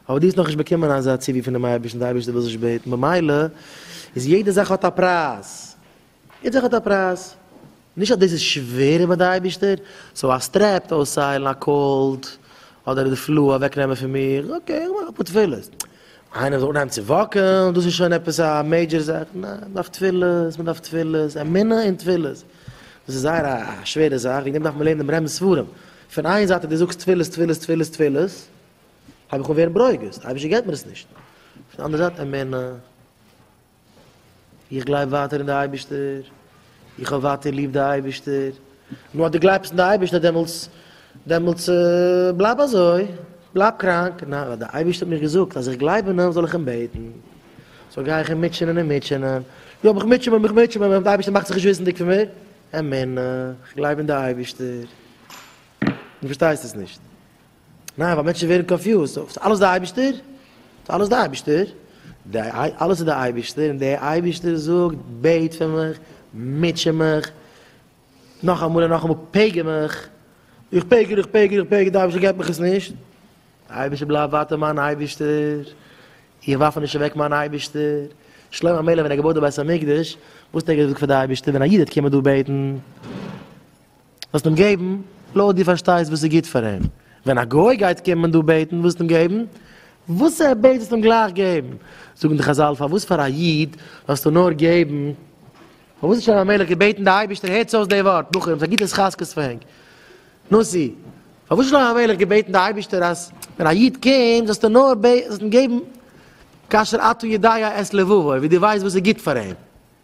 אבער דו האסט נאכנישט באקומען אזא ציווי פונעם אייבערשטן, דער אייבערשטער וויל זיך נישט בעטן, במילא איז יעדע זאך האט א פרייז, יעדע זאך האט א פרייז, נישט אז דאס איז שווערער ביי די אייבערשטער, סאו א סטרעפ אויסהיילן, א קאלד, אדער די פלו אוועקנעמען פון מיר, אקעי איך מאך אפאר תפילות, איינער זאל אנהייבן צו וואקעלן, דאס איז שוין עפעס א מעידזשער זאך, ניין, מען דארף תפילות, מען דארף תפילות, אמונה און תפילות, דאס איז זייער א שווערע זאך, וועגן דעם דארף מען לערנען ברמ ספרים, פון איין זייט אז דו זאגסט תפילות תפילות תפילות תפילות, הייב איך אן ווערן ברוגז, די אייבערשטער געבט מיר עס נישט. פון די אנדערע זייט אמונה, איך גלייב ווייטער אין די אייבערשטער, איך האב ווייטער ליב די אייבערשטער, נו אז דו גלייבסט אין די אייבערשטער דעמאלטס דעמאלטס בלייב אזוי, בלייב קראנק, ניין ווייל די אייבערשטער האט מיר געזאגט אז איך גלייב אין אים זאל איך אים בעטן, סאו גיי איך אים מוטשענען און מוטשענען, יא מיך מוטשען מען מיך מוטשען מען, די אייבערשטער מאכט זיך נישט וויסנדיג פון מיר? אמונה, איך גלייב אין די אייבערשטער, דו פארשטייסט עס נישט. ניין ווייל מענטשן ווערן קאנפיוזד, סאו ס'איז אלעס די אייבישטער? ס'איז אלעס די אייבישטער? די אלעס איז די אייבישטער און די אייבישטער זאגט בעט פאר מיך, מוטשע מיך, נאך אמאל און נאך אמאל פעגער מיך, איך פעגער איך פעגער איך פעגער די אייבישטער געבט מיך עס נישט, די אייבישטער בלייב ווייטער מיין אייבישטער, איך ווארף נישט אוועק מיין אייבישטער, שלמה המלך ווען ער האט געבויט די בית המקדש, וואס האט ער געזאגט פאר די אייבישטער ווען א איד וועט קומען דא בעטן? וועסט אים געבן לויט דו פארשטייסט וואס איז גוט פאר אים, ווען א גוי גייט קומען דא בעטן וואלסטו אים געבן וואס ער בעט וועסטו אים גלייך געבן, זאגן די חזל פארוואס פאר א איד זאלסטו נאר געבן, פארוואס האט שלמה המלך געבעטן די אייבערשטער הערטס אויס די ווארט בחורים ס'איז א גוטע התחזקות פאר ענק, נשיא, פארוואס שלמה המלך געבעטן די אייבערשטער אז ווען א איד קומט זאלסטו נאר בעט זאלסטו אים געבן כאשר אתה יודע את לבבו ווי דו ווייסט וואס איז גוט פאר אים.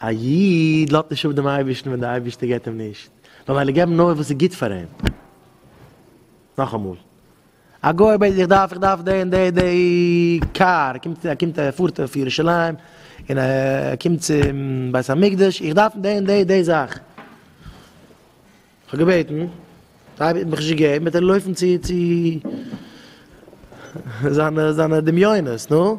א איד לאזט נישט אפ דעם אייבערשטן ווען דער אייבערשטער געבט אים נישט, נאר ווייל ער געבט נאר וואס איז גוט פאר אים. נאכאמאל, א גוי בעט, איך דארף, איך דארף די און די, די קאר, ער קומט, ער קומט, ער פארט אויף ירושלים, און ער קומט צום בית המקדש, איך דארף די און די, די זאך. איך האב געבעטן, דער אייבערשטער האט מיך נישט געגעבן, וועט ער לויפן צו, צו זיינע, זיינע דמיונות, נו.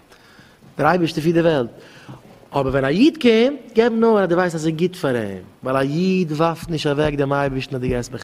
דער אייבערשטער פירט די וועלט, אבער ווען א איד קומט, געב נאר אז דו ווייסט אז ס'איז גוט פאר אים, ווייל א איד ווארפט נישט אוועק דעם אייבערשטן אז דו גייסט